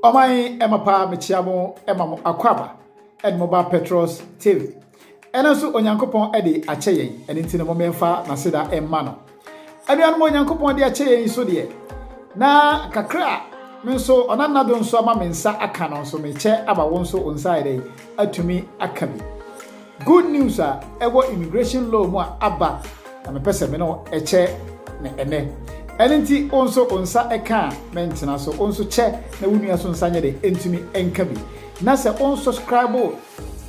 ɔman ɛma paa mekyia mo ɛma mo akɔ aba ɛne mo ba petros tv ɛno nso onyankopɔn ɛde akyɛ yɛn ɛne nti no momɛmfa n'aseda ɛma no anuanom onyankopɔn de akyɛ yɛn so deɛ na kakra a me nso ɔnanado nso ama me nsa aka no nso mekyɛ ama wo nso wo nsa ayɛ dɛn atumi aka bi Good news a ɛwɔ immigration law mu a aba na mepɛ sɛ me ne wo kyɛ no ɛnnɛ. Ɛno nti wo nso wo nsa ka a mentena so, wo nso kyɛ na wo nua so nsa nyɛ dɛ ntumi nka bi. Na sɛ wo subscribe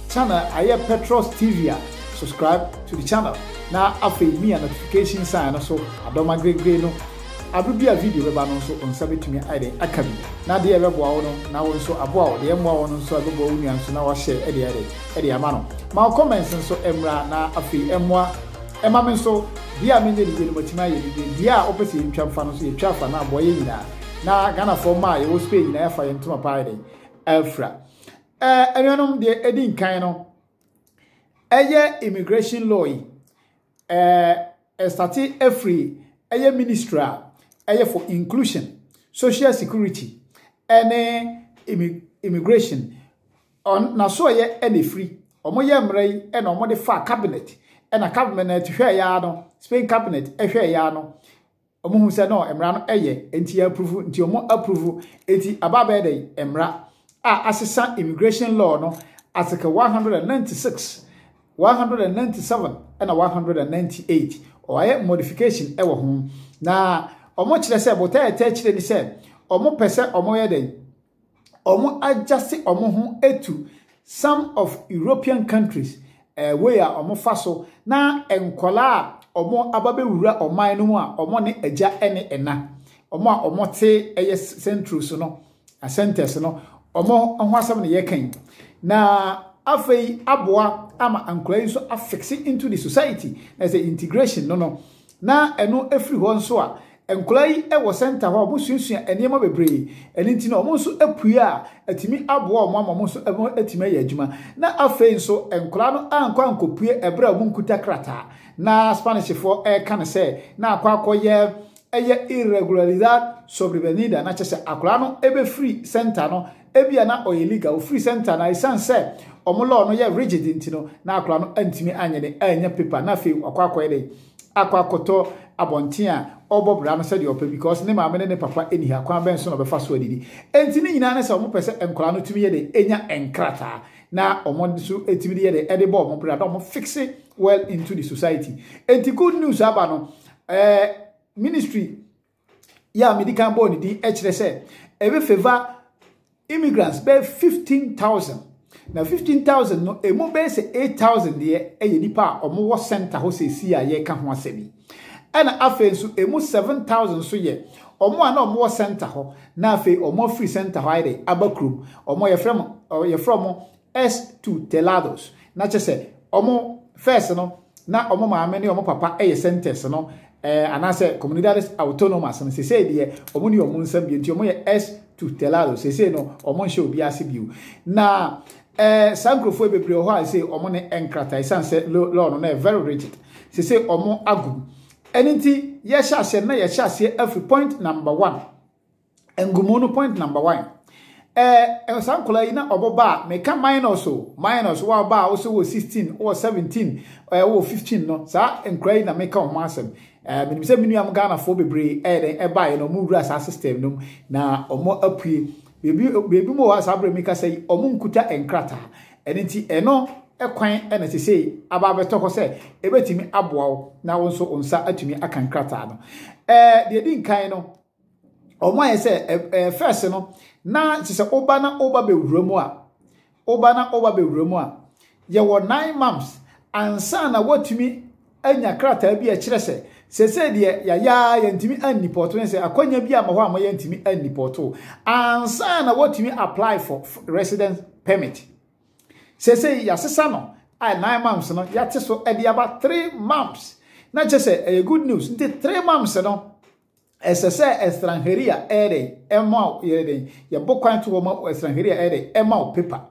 channel ayɛ Petros TV a subscribe to the channel na afei mia notification sign no so adɔma gregre no aber bi a video bɛba no nso wo nsa bɛtumi ayɛ dɛ aka bi. Na deɛ ɛbɛboa wo no na wo nso aboa wo, deɛ ɛmmoa wo no nso a ɛbɛboa wo nua nso na wahyɛ de ayɛ dɛ de ama no. Ma comments nso mmra na afei ɛmmoa ɛma me nso deɛ a menyɛ ne yie no matumi ayɛ ne yie. Deɛ a wopɛ sɛ yɛntwa mfa no nso yɛtwa fa na aboa yɛn nyinaa na Ghanafoɔ mma a yɛwɔ Spain nyinaa yɛafa yɛn ntoma pa ayɛ dɛn afira. Ɛɛ anuanom deɛ ɛdi nkan no ɛyɛ immigration law yi. Ɛɛ starte afiri ɛyɛ ministry a ɛyɛ for inclusion, social security ɛne immigration ɔn n'asoɛyɛ ɛna ɛfiri. Wɔn yɛ mmerɛ yi ɛna wɔn de fa cabinet ɛna cabinet hwɛɛ ya no Spain cabinet ɛhwɛɛ ya no. Ɔmo hu sɛ no mmara no ɛyɛ nti yɛ approve nti ɔmo approve nti aba abɛyɛ dɛ mmara a asesa immigration law no article 196 197 ɛna 198 ɔayɛ modification ɛwɔ ho na ɔmo kyerɛ sɛ botɛɛtɛ kyerɛ ni sɛ ɔmo pɛ sɛ ɔmo yɛ dɛ ɔmo agyase ɔmo ho etu some of European countries eh, way a ɔmo fa so na nkɔlaa a ɔmo aba bɛwura ɔman no mu a ɔmo ne agya ɛne ɛna ɔmo a ɔmo te ɛyɛ central so no centers no ɔmo ho asɛm na yɛka yi na afei aboa ama nkɔlaa yi nso afekse into the society na sɛ integration no no Na ɛno firi hɔ nso a, nkwadaa yi wɔ center hɔ a wɔsuasua nneɛma bebree. Ɛno nti no, wɔn nso pue a, atumi aboa wɔn ama wɔn nso atumi ayɛ adwuma. Na afei nso, nkwadaa no ankɔ ankɔpue ɛberɛ a wɔnkuta krataa. Na Spanishfoɔ reka no sɛ, na akɔ akɔyɛ ɛyɛ irregularidad sobrevenida, na kyerɛ sɛ akwadaa no bɛfiri center no Ebia na ɔyɛ illegal, ofiri center na esiane sɛ wɔn law no yɛ rigid nti no, na akwadaa no antumi anyɛ dɛn annya paper na afei wakɔ akɔyɛ dɛn akɔ akɔtɔ abɔnten a ɔrebɔ bra no sɛdeɛ ɔpɛ because ne maame ne ne papa nni ha, kwan bɛn so na ɔbɛfa so adidi? Enti ne nyinaa ne sɛ wɔpɛ sɛ nkwadaa no tumi yɛ dɛn nya nkrataa na wɔn nso tumi de yɛ dɛn de bɔ wɔn bra na wɔn fixe well into the society. Enti good news aba no, eh, ministry yi a mede kan bɔɔ ne din kyerɛ sɛ ɛbɛfɛva immigrants bɛyɛ fifteen thousand na fifteen thousand no emu bɛyɛ sɛ eight thousand deɛ ɛyɛ nipa a wɔwɔ center hɔ sɛsi a yɛreka ho asɛm yi ɛna afei nso emu seven thousand nso yɛ wɔn a na wɔwɔ center hɔ na afei wɔn afiri center hɔ ayɛ dɛ aba kurom wɔn yɛfrɛ mo yɛfrɛ wɔn es tutelados, na kyerɛ sɛ wɔn first no na wɔn maame ne wɔn papa yɛ centers no eh, anaasɛ comunidades autonomas no sesei deɛ wɔn ne wɔn nsɛm bio nti wɔn yɛ es tutelados sesei no wɔn nhyɛ obi ase bio na eh, saa nkurɔfoɔ bebree wɔ hɔ a sɛ wɔn ne nkrataa ɛsiane sɛ law no na yɛ very rigid sesei wɔn agum ɛno nti yɛhyɛ aseɛ na yɛhyɛ aseɛ afiri point number one Ngumu no point number one. Ɛɛ saa nkɔla yi na ɔbɔ ba a meka minus o minus wɔ aba a wosɛ wɔ sixteen wɔ seventeen ɛɛ wɔ fifteen no saa nkɔla yi na meka wɔn asɛm. Ɛɛ menim sɛ me nuam Ghanafoɔ bebree ɛyɛ dɛn ɛba yɛ na wɔn wura saa system no mu na wɔn apue. Beebi beebi mu wɔ hɔ a saa bere mi kasa yi wɔn nkuta nkrataa. Ɛno nti ɛno kwan ɛna sese aba abɛtɔ hɔ sɛ ebetumi aboa wo na wo nso nsa atumi aka nkrataa no. Ɛɛ deɛ di nkan no wɔn ayɛ sɛ ɛɛ fɛs no na te sɛ woba na woba bɛwura mu a woba na woba bɛwura mu a yɛwɔ nine months ansa na woatumi anya krataa bi a ɛkyerɛ sɛ sɛsɛ deɛ yɛayɛ yɛntumi annipɔto ne sɛ akwanya bi a ma hɔ a ma yɛntumi annipɔto ansa na woatumi apply for resident permit sɛsɛ yɛasesa no a nine months no yɛate so de aba three months na kyerɛ sɛ ɛyɛ good news nti three months no Ɛsɛ sɛ Estranheria yɛ dɛn? Ɛma wo yɛ dɛn? Yɛbɔ kwan to hɔ ma Estranheria yɛ dɛn? Ɛma wo paper.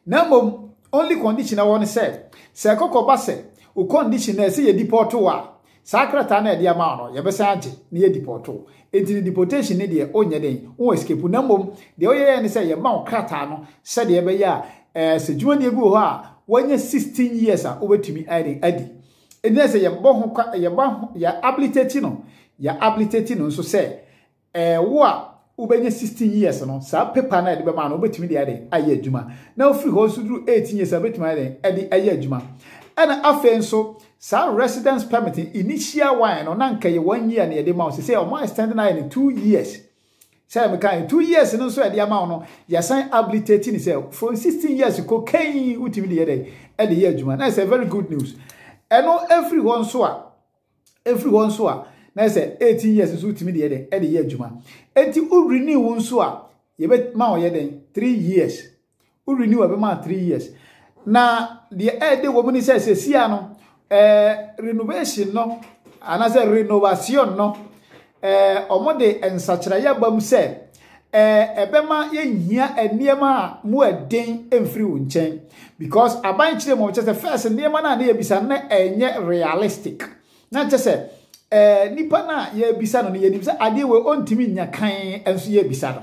Na mmom, only condition ɛwɔ no sɛ, sɛ ɛkɔkɔ ba sɛ, wo condition na ɛsɛ yɛ deport wo a, saa krataa na ɛde ama wo no, yɛbɛsan agye na yɛ deport wo. Enti ne deportation ne deɛ, wonyɛ dɛn? Wo escape. Na mmom, deɛ woyɛ yɛ ne sɛ, yɛma wo krataa no sɛdeɛ ɛbɛyɛ a, ɛɛ, sɛ dwumadie bi wɔ hɔ a, wanya 16 years a, wobɛtumi ayɛ dɛn? Adi. Ɛnyɛ sɛ yɛbɔ ho kwa, yɛbɔ ho, yɛ abilitate no, yɛ abilitate no nso sɛ ɛɛ wo a wobɛnya 16 years no, saa paper no a yɛde bɛma no wobɛtumi de ayɛ ayɛ adwuma. Na wofiri hɔ nso duru 18 years a wobɛtumi ayɛ dɛn ɛde ayɛ adwuma. Ɛna afei nso saa residence permit initial one no na nka yɛ one year na yɛde ma wo sɛ sɛ wɔn extend no ayɛ no two years. Sɛnea mekaa no, two years no nso a yɛde ama wo no, yɛasan abilitate no sɛ from sixteen years kɔ kɛn wotumi de yɛ dɛ ɛde yɛ adwuma. Na ɛsɛ very good news. Ɛno ɛfiri hɔ nso a, ɛfiri hɔ nso a, na ɛsɛ eighteen years nso wotumi de yɛ dɛ ɛde yɛ adwuma. Eti wo renew nso a, yɛbɛma ɔyɛ dɛn three years. wo renew ɛbɛma a three years na deɛ ɛɛde wɔ mu ne sɛ sɛsia no ɛɛ renovation no anaasɛ renovation no ɛɛ wɔn de nsakyerɛyɛ aba mu sɛ ɛɛ ɛbɛma yɛnhia nneɛma a mu ɛden mfiri wo nkyɛn because aban kyerɛ mu ɔkyɛ sɛ first nneɛma no a ne yɛbisa no ɛnyɛ realistic na kyɛ sɛ ɛɛ nipa no a yɛbisa no no yɛnim sɛ adeɛ wɔ ɔntumi nya kan nso yɛbisa no.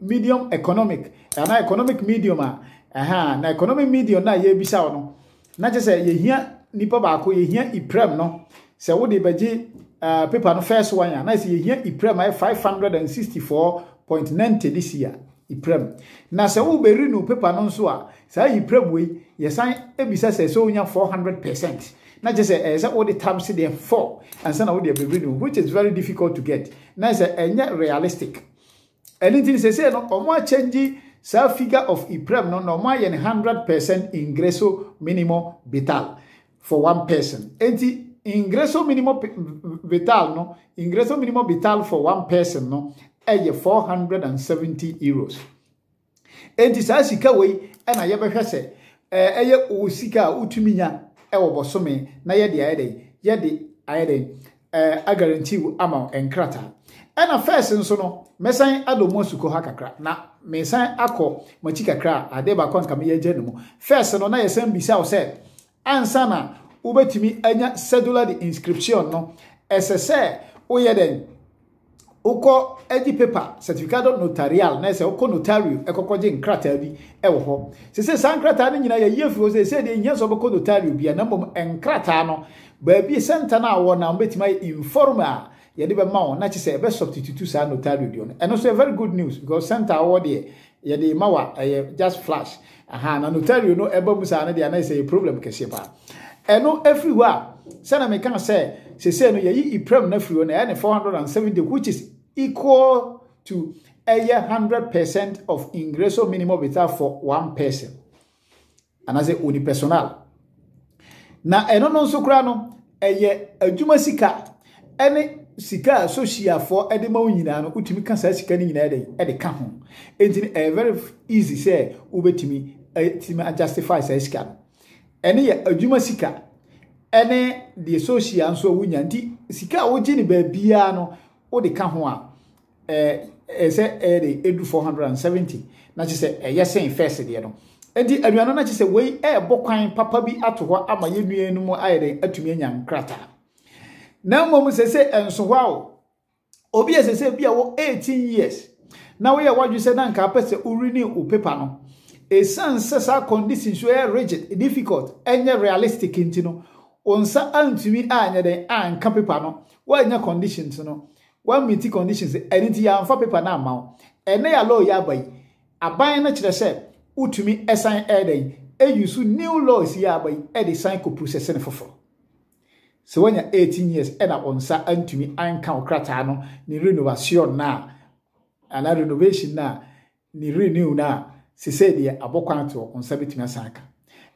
medium economic anaa economic medium a ɛha na economic medium no a yɛrebisa wo no na kyerɛ sɛ yɛhia nipa baako yɛhia iprɛm no sɛ wode bɛgye uh, paper no first one a na sɛ yɛhia iprɛm ayɛ 564.90 this year iprɛm na sɛ wobɛri no paper no nso a saa iprɛm wei yɛsan bisa sɛ sɛ wonya 400 percent na kyerɛ sɛ ɛyɛ sɛ wode tam se deɛ four ansa na wode abɛbiri no which is very difficult to get na sɛ ɛnyɛ realistic Ɛno nti no sesei no ɔmo a change saa figure of iprem no na ɔmo ayɛ no hundred percent ingreso minimo vital for one person enti ingreso minimo vital no ingreso minimo vital for one person no ɛyɛ four hundred and seventy euros Enti saa sika wei na yɛbɛhwɛ sɛ ɛyɛ wo sika a wotumi nya wɔ bɔsome na yɛde ayɛ dɛn yɛde ayɛ dɛn agaranti wo ama wo nkrataa ɛna fɛs nso no mɛsan adɔ mu asukɔ ha kakra na mesan akɔ makyi kakra a adeɛ baako a nka meyɛ agya no mu fɛs no na yɛsan bisa wo sɛ Ansa na wobɛtumi anya cedula de inscripción no, ɛsɛ sɛ woyɛ dɛn? Wokɔ gye paper certificado notarial na ɛsɛ wokɔ notario ɛkɔkɔ gye nkrataa bi wɔ hɔ. Sese saa nkrataa no nyinaa yɛyi afiri hɔ sɛ ɛsɛ deɛ nhia sɛ wobɛkɔ notario bia na mmom nkrataa no baabi sɛnta no a wɔ na wobɛtumi ayɛ informal yɛde bɛma wɔn na kyesɛ ɛbɛ substitute saa notario deɛ no ɛno nso yɛ very good news because center awɔ deɛ yɛde ma wa ɛyɛ just flash aha na notario no ɛba mu saa no deɛ anayɛ sɛ yɛ problem kɛseɛ paa ɛno ɛfiri hɔ a sɛna meka sɛ sese no yɛyi iprem na firi hɔ na ɛyɛ ne 470 which is equal to ɛyɛ 100 percent of ingreso minimum vitae for one person anaasɛ unipersonal na ɛno no nso koraa no ɛyɛ adwuma sika ɛne sika a sosiafoɔ ɛde ma wo nyinaa no wotumi ka saa sika no nyinaa ɛde ɛde ka ho enti no ɛyɛ very easy sɛ wobɛtumi ɛtumi adjustify saa sika no ɛne yɛ adwuma sika ɛne deɛ sosia nso a wonya nti sika a wogye no baabiara no wode ka ho a ɛɛ sɛ ɛyɛ de edu four hundred and seventy na kyerɛ sɛ ɛyɛ sɛn fɛs deɛ no eti aduane na kyerɛ sɛ wei ɛɛbɔ kwan papa bi ato hɔ ama yɛn nua no mu ayɛ de atumi anya nkrataa na mmom sɛ sɛ ɛnso hɔ awo obi ɛsɛ sɛ bi a wɔ eighteen years na woyɛ wadwi sɛ na nka apɛ sɛ wori ne wo pepa no esan sɛ saa condition so ɛyɛ rigid difficult ɛnyɛ realistic nti no wɔn nsa antumi anyɛ dɛn anka pepa no wɔanya conditions no. Wa meeti conditions ɛno nti yɛanfa paper no amma wo. Ɛnnɛ ya law yi aba yi, aban no kyerɛ sɛ wotumi san ɛyɛ dɛn ɛyi use new laws yi aba yi ɛde san kɔ processing foforo. Sɛ wanya 18 years ɛna wo nsa antumi anka wo krataa no ne renovation no a, anaa renovation no a, ne renew no a, sesei deɛ abɔ kwan to wo nsa bɛtumi asan aka.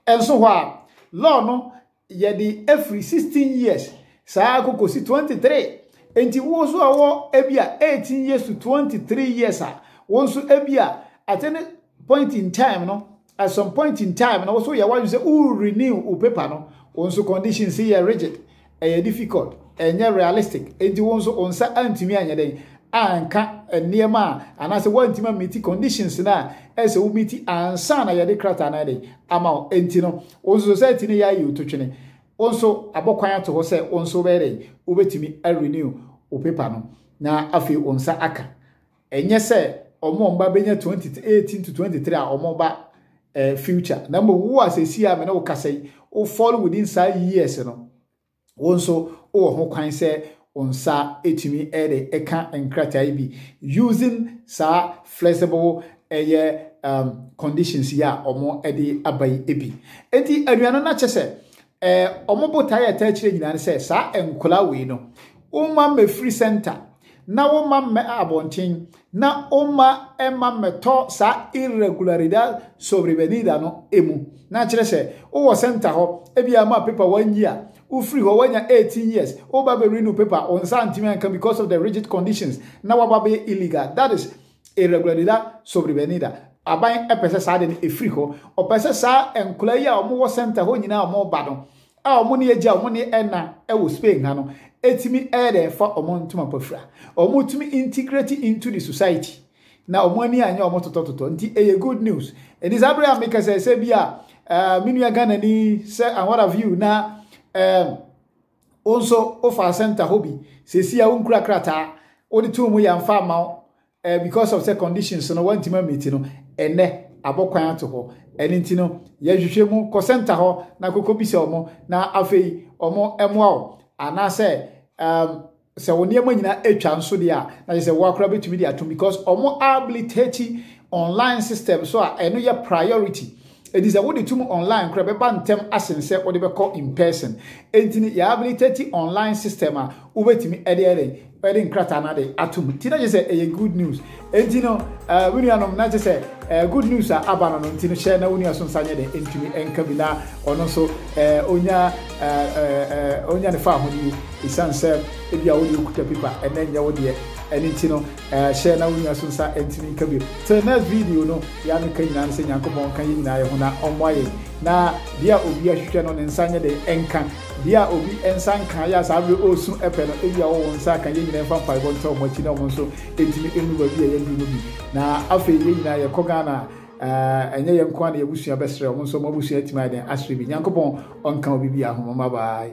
Nso hɔ a, law no yɛde afiri 16 years saa kɔkɔsi 23. Enti wo nso a wɔ ebi a 18 years to 23 years a, wo nso ebi a at any point in time no, at some point in time na woso yɛ wadwene sɛ wo renew wo paper no wo nso condition si yɛ rigid ɛyɛ difficult ɛnyɛ realistic enti wo nso wo nsa antumi anyɛ dɛn anka nneɛma a anaasɛ woantumi amiti conditions no a ɛsɛ wo miti ansa na yɛde krataa no dɛn ama wo enti no wo nso society no yɛ ayɛ ototwene wo nso abɔkwan ato hɔ sɛ wo nso wobɛyɛ dɛn wobɛtumi arenew wo paper no na afei wo nsa aka Ɛnyɛ sɛ wɔn a wɔn ba bɛnya 2018 to 23 a wɔn ba eh, future na mmom wo a sɛsi a me ne wo kasa yi wo fall within saa years no wo nso wowɔ ho kwan sɛ wo nsa ɛtumi ɛde ɛka nkrataa yi bi using saa flexible ɛyɛ um, conditions yi a wɔn ɛde aba yi bi enti anuanom no akyɛ sɛ eh, wɔn botaeɛ a ɛtaa akyire nyinaa ne sɛ saa nkwadaa wei no woma mmɛfiri center na woma mmɛ abɔnten na woma mma mmɛtɔ saa irregularidad sobrevenida no mu na kyerɛ sɛ wowɔ center hɔ ebi ama paper one year wofiri hɔ wanya 18 years woba bɛ renew paper wɔn nsa ntumi anka because of the rigid conditions na waba bɛyɛ illegal that is irregularidad sobrevenida. Aban pɛ sɛ saa de no ɛfiri hɔ. Ɔpɛ sɛ saa nkwadaa yi a wɔwɔ sɛnta hɔ nyinaa wɔn ba no a wɔn ne agya wɔn ne ɛna wɔ Spain ha no ɛtumi ɛyɛ dɛ fa wɔn ntoma pa fira. Wɔn tumi integrate into the society na wɔn ani anyɛ wɔn totɔtotɔ nti ɛyɛ good news. Ɛnti saa bere a meka sɛ sɛ bi a uh, me nua Ghana ni sɛ and what have you na uh, Wo nso wofaa center hɔ bi. Seesia wonkura krataa. Wode too mu yɛamfa amma wo eh, because of sɛ conditions no wantumi amiti no. Ɛnɛ abɔ kwan ato hɔ. Ɛno nti no yɛhwehwɛ mu kɔ center hɔ na kɔkɔbisa wɔn na afei wɔn mmoa wo anaasɛ um, Sɛ wo nneɛma nyinaa atwa nso deɛ a, na kyerɛ sɛ woakora bɛtumi de atom because ɔmo abilitate online system so a ɛno yɛ priority. Enti sɛ wode tum online kora bɛba ntɛm asen sɛ wode bɛkɔ in person. Enti no yɛ abilitate online system a wobɛtumi ɛde ɛdɛn ɛde nkrataa no ade atom. Nti na kyerɛ sɛ ɛyɛ good news. Enti no, eh, me nuanom, na gye sɛ, eh, good news a aba no no nti no, hyɛ na wo nua so nsa nyɛ dɛ ntumi nka bi na ɔno nso, eh, onya, eh, eh, eh, onya ne faahodi. Esiane sɛ ebi a wode okuta pipa ɛnɛ nyɛ wo deɛ, ɛno nti no, eh, hyɛ na wo nua so nsa ntumi nka bi. Till next video no, yɛ a meka nyinaa no sɛ Nyankopɔn nka yɛn nyinaa yɛ ho na ɔmmoa yɛn. Na deɛ a obi ahwehwɛ no, ne nsa nyɛ dɛ nka. Deɛ a obi nsa nka, yɛ a saa bere ɔresu pɛ no, ebi a ɔwɔ wo nsa ka, yɛn nyinaa mfa mpaebɔ nkyɛ wɔn akyi na wɔn nso ɛtumi ɛnu baabi a yɛduru no bi na afei yɛn nyinaa yɛkɔ Ghana a ɛnyɛ yɛn nko a na yɛn abusua bɛsrɛ wɔn nso wɔn abusua atumi ayɛ dɛn asrɛ bi Nyankopɔn ɔnka obi bi ahoma ma bye